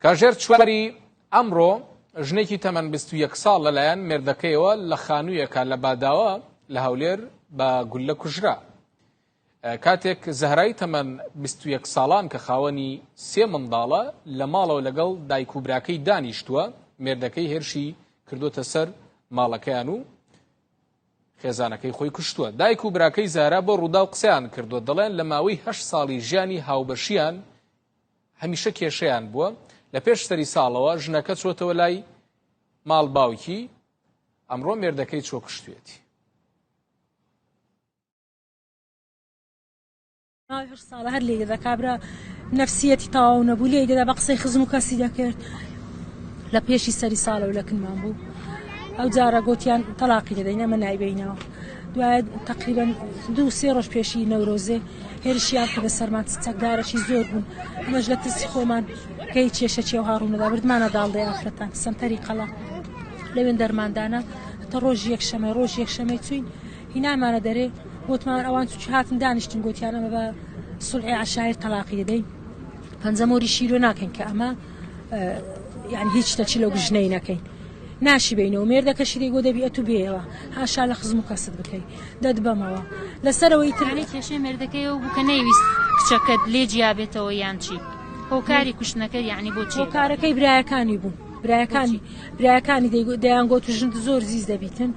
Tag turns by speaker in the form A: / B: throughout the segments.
A: کاژێر چواری ئەمڕۆ ژنێکی تەمەەن 21 ساڵ لەلایەن مردەکەیەوە لە خانوویەکە لە باداوە لە هەولێر بە گولە کوژرا کاتێک زەهرای تەمەن بیست و یەک ساڵان کە خاوەنی سێ منداڵە، لە ماڵەوە لەگەڵ دایک و براکەی دانیشتووە، مێردەکەی هێرشی کردووەتە سەر ماڵەکەیان و خێزانەکەی خۆی کوشتووە. دایک و براکەی زەهرا بۆ رووداو قسەیان کردووە، دەڵێن لە ماوەی هەشت ساڵی ژیانی هاوبەشیان هەمیشە کێشەیان بووە، لە پێش سەری ساڵەوە ژنەکە چۆتەوە لای ماڵ باوکی، ئەمڕۆ مێردەکەی چۆ کوشتوویەتی. ماوەی هەشت ساڵە هەر لێ دەدا کابرا نەفسیەتی تاو نەبوو لێ دەدا بە قسەی خزم و کەسی دەکرد لە پێشی سەری ساڵە و لە کنمان بوو ئەو جارە گوتیان تەلاقی دەدەین ئەمە نایبینەوە دوای تقریبا دوو سێ ڕۆژ پێشی نەورۆزێ هێرشیان کە بە سەرمان چەکدارەشی زۆر بوون ئەمەش لە ترسی خۆمان کەی کێشە چێ و هاڕوونەدا بردمانە داڵدە یافرەتان سنتەری قەڵا لەوێن دەرماندانە تە ڕۆژ یەکشەمە ڕۆژ یەکشەمەی چوین هینایمانە دەرێ گۆتمان ئەوان چ هاتن دانیشتن گۆتیان ئەمە بە سلعی عشایر تەلاقی دەدەین پەنجە مۆری شیرۆ ناکەین کە ئەمە یعنی هیچ تەچی لەو گژنەی نەکەین ناشی بینەوە مێردەکەشی دەیگۆ دەبی ئەتو بێەوە هاشا لە خزم و کەست بکەی دەت بەمەوە لەسەرەوەی ترانی کێشەی مێردەکەی و بکە نەیویست کچەکەت لێ جیابێتەوە یان چی هۆکاری کوشتنەکە یعنی بۆچی کارەکەی برایەکانی بوو برایەکانی برایەکانی دەیان گۆت و ژند زۆر زیز دەبیتن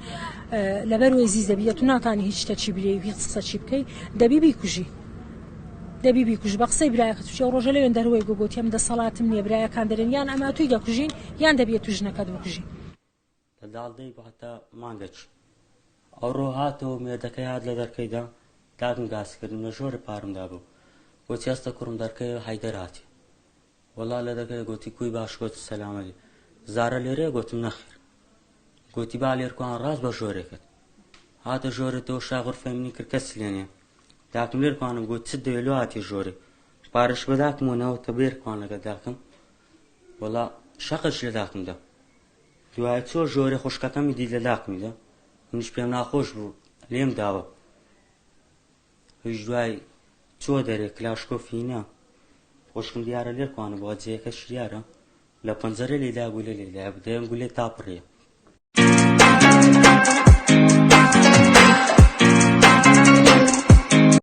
A: لەبەر وەی زیز دەبی تو ناتانی هیچ شتە چی بلێ هیچ قسە چی بکەی دەبی بیکوژی دەبی بیکوژ بە قسەی برایەکە توچێ ڕۆژە لەوێن دەروەی گوگوتیم دەسەڵاتم نییە برایەکان دەرێن یان ئەما توی دەکوژین یان دەبێت تو ژنەکەت بکوژی لە داڵدەی باتە مانگەچ ئەوڕۆ هاتەوە مێردەکەی هات لە دەرکەیدا داگم گاسکردم لە ژۆرە پارمدا بوو بۆ چێستە کوڕم دەرکەی حیدەر هاتی وەڵا لە دەکەێ گۆتی کوی باش گۆتی سەلامەلی زارە لێرێ گۆتم نەخیر گۆتی با لێر کوان ڕاست بە ژۆرێ کرد هاتە ژۆرە تۆ شاغر فەمنی کرد کەس لێنێ داکم لێر کوانم گۆت چ دەێلو هاتی ژۆرێ پارش بە داکم و نەوە کە بێر کوان لەگە داکم وەڵا شەقش لە داکم دە دوای چۆ ژۆرە خوشکەکەمی دی لە داکمی دە منش پێم ناخۆش بوو لێم داوە هیچ دوای چوە دەرێ کلاشکۆف هی نا خوشکم دیارە لێ کوانە بۆ جێەکە شیارە لە پەنجەرە لێدا گولە لێدا بدەم گولێ تا پڕێ